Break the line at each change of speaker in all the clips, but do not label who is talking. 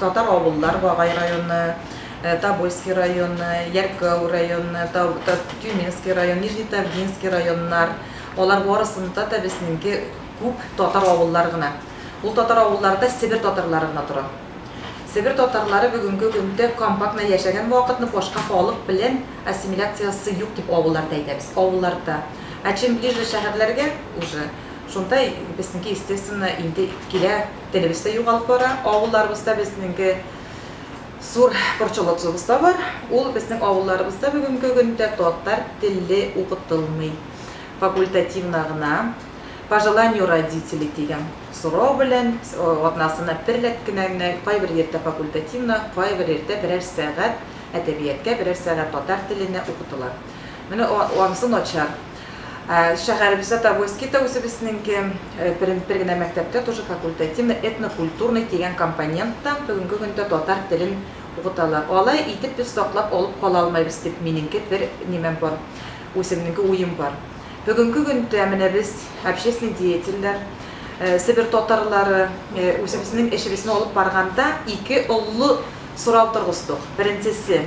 Татар авыллар, Гагай районы, Тобольский районы, Яркәү районы, Тюменский район, Нижнетавдинский районнар, алар барысында да безнеңке күп татар авыллар гына. Ул татар авылларда Себер татарлары гына тора. Себер татарлары бүгенге көндә компактно яшәгән вакытны башка халык белән ассимиляциясе юк дип авылларда әйтәбез, авылларда. Ә чем ближе шәһәрләргә уже, шунда безнеке естественно инде килә. Телебез дә югалып бара. Авылларыбызда безнеңге зур борчылыгыбыз да бар. Ул безнең авылларыбызда бүгенге көндә татар теле укытылмый. Факультативно гына, по желанию родителей дигән сорау белән, атнасына бер рәт кенә генә, кайбер йирдә факультативно, кайбер йирдә берәр сәгать әдәбияткә, берәр сәгать татар теленә укытыла. Менә анысы начар. Ә, Шәһәребездә Тобольский да үзебезнеңке. Э, Бер, бер генә мәктәптә тоже факультативный, этнокультурный дигән компоненттан бүгенге көндә татар телен укыталар. Алай итеп без саклап алып кала алмыйбыз дип минеңке бер нимәм бар, үземнеңке уем бар. Бүгенге көндә менә без, общественный деятельләр, э, Себер татарлары, э, үзебезнең эшебезне алып барганда ике оллы сорау торгыздык. Беренчесе.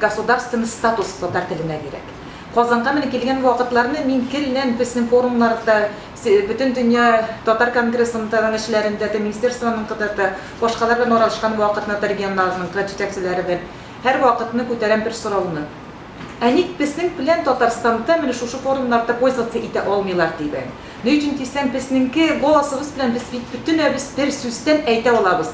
Государственный статус татар теленә кирәк. Казанга менеп килгән вакытларны мин гел-лән безнең форумнарда, Бөтендөнья татар конгрессының эшләрендә дә, министерствонынгыда да, башкалар белән аралашкан вакытны да, регионнарныкы җитәкчеләре белән һәрвакытны күтәрәм бер сорауны. Ә ник безнең белән Татарстанда менә шушы форумнарда пользоваться итә алмыйлар дибен. Ни өчен дисәң, безнеңке голосыбыз белән без бит бөтенебез бер сүздән әйтә алабыз.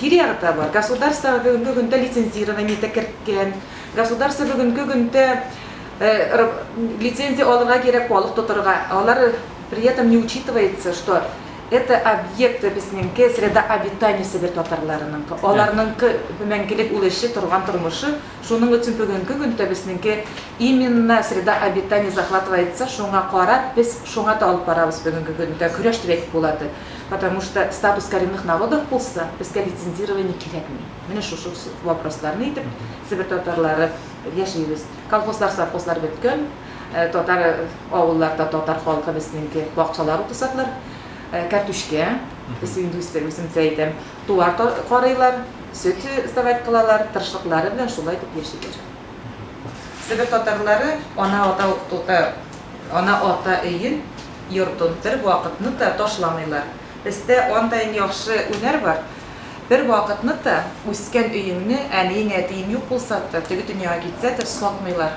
Тирә-якта бар. Государство бүгенге көндә лицензирование дә керткән. Государство бүгенге көндә лицензия алырга кирәк балык тотарга. Алар при этом не учитывается, что это объект безнеңке среда обитаниесе бер татарларыныңкы. Аларныңкы мәңгелек ул эше, торган тормышы. Шуның өчен бүгенге көндә безнеңке именно среда обитания захватывается, шуңа карап без шуңа да алып барабыз бүгенге көндә көрәш дип әйтеп була. Потому что статус коренных народов булса, безгә лицензирование кирәкми. Менә шушы вопросларны итеп, себер татарлары яшибез. Колхозлар, совхозлар беткән. Татар авылларда татар халкы безнеңке бакчалар утырсаклар, кәртүчкә, без инде үземчә әйтәм, туар карыйлар, сөт сдавать кылалар, тырышлыклары белән шулай итеп яшиләр. Себер татарлары ана ата ана ата өен, йортын бер вакытны та ташламыйлар. Бездә андайн яхшы унәр бар, бер вакытны та үскән өеңне, әниең, әтиең юк булса та, теге дөньяга китсә дә, сатмыйлар.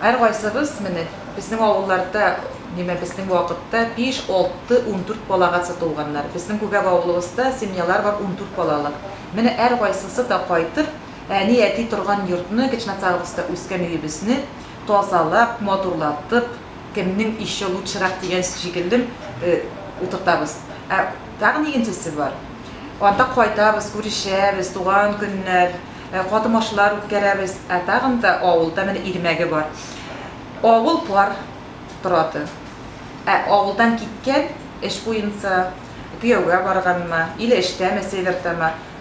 Һәркайсыбыз, менә, безнең авылларда, димә, безнең вакытта биш, алты, ундүрт балагасы туганнар. Безнең күгәп авылыбызда семьялар бар ундүрт балалы. Менә һәркайсысы да кайтып, Әни-әти торган йортны, Гечнацаровскта үскән өебезне тазалап, матурлатып, кемнең ише лучшерак дигән шикелле, утыртабыз. Ә тагын икенчесе бар. Анда кайтабыз, күрешәбез, туган көннәр, катымашлар үткәрәбез. Ә тагын да авылда менә Ирмәге бар. Авыл пар торады. Ә авылдан киткән, эш буенча, кияүгә барганмы, иле эштәме, севердамы,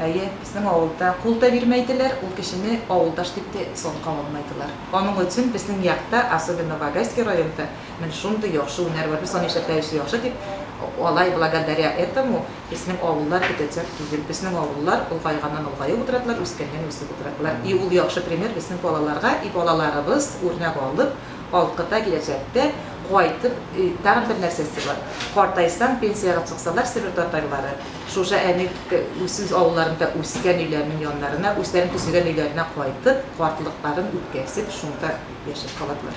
Әйе, безнең авылда кул да бирмәйделәр, ул кешене авылдаш дип тә исән кала алмайдылар. Аның өчен безнең якта, особенно Вагайский районда, менә шундый яхшы һөнәр бар, без аны эшләтәбез яхшы дип, алай благодаря этому безнең авыллар бетәчәк түгел. Безнең авыллар олгайганнан-олгаеп утырадылар, үскәннән-үсеп утырадылар. И ул яхшы пример безнең балаларга, и балаларыбыз үрнәк алып, алкыда киләчәктә кайтып, тагын бер нәрсәсе бар, картайсаң, пенсиягә чыксалар, себер татарлары, Шушы әни үз авылларында үскән өйләренең яннарына, үзләренең төзегән өйләренә кайтып, картлыкларын үткәрсеп, шунда яшәп каладылар.